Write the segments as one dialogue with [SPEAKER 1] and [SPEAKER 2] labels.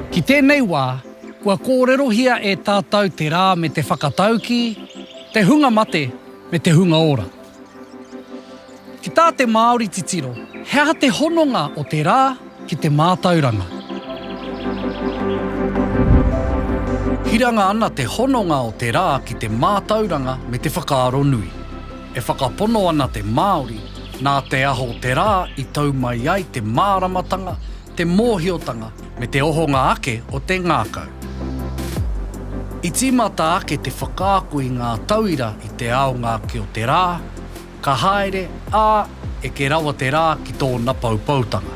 [SPEAKER 1] Ki tēnei wā, kua kōrerohia e tātou te rā me te whakataukī, te hunga mate me te hunga ora. Ki tā te Māori titiro, he aha te hononga o te rā ki te mātauranga? Hiranga ana te hononga o te rā ki te mātauranga me te whakaaro nui. E whakapono ana te Māori, nā te aho te rā i tau mai ai te māramatanga te mōhiotanga me te ohonga ake o te ngākau. I tīmata ake te whakaako i ngā tauira i te aonga ake o te rā, ka haere, ā, eke rawa te rā ki tōna poupoutanga.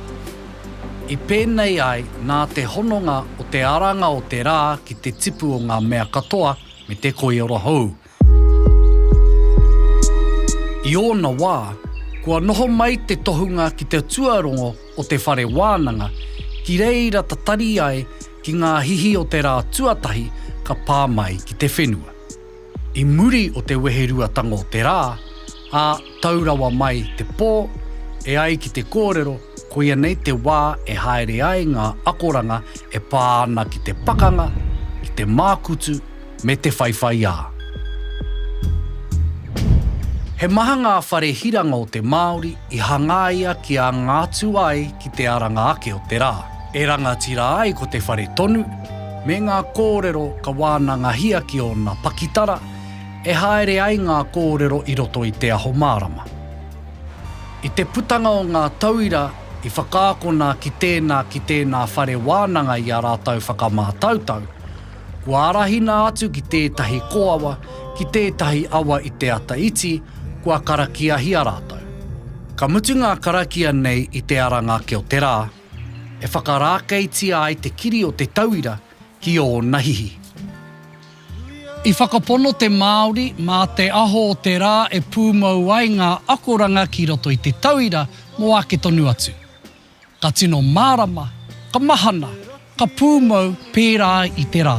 [SPEAKER 1] I pēnei ai nā te hononga o te aranga o te rā ki te tipu o ngā mea katoa me te koiora hou, I ōna wā, kua noho mai te tohunga ki te tuarongo o te whare wānanga, ki reira tatari ai ki ngā hihi o te rā tuatahi ka pā mai ki te whenua. I muri o te weheruatanga o te rā, ā, Tau rawa mai te pō, e ai ki te kōrero, koia nei te wā e haere ai ngā akoranga e pā ana ki te pakanga, ki te mākutu, me te whaiwhaiā. He maha ngā whare hiranga o te Māori i hangaia kia ngātu ai ki te aranga ake o te rā. E rangatira ai ko te whare tonu, me ngā kōrero ka wānangahia ki ōna pakitara, E haere ai ngā kōrero i roto i Te Aho Mārama. I te putanga o ngā tauira i whakaakona ki tēnā ki tēnā whare wānanga i a rātou whakamātautau, kua arahina atu ki tētahi kōawa, ki tētahi awa i te ata iti, kua karakiahia rātou. Ka mutu ngā karakia nei i te aranga ki o te rā, e whakarākeitia ai te kiri o te tauira, ki ōna hihi. I whakapono te Māori mā te aho o te rā e pūmau ai ngā akoranga ki roto i te tauira mō ake tonu atu. Ka tino mārama, ka mahana, ka pūmau pērā i te rā.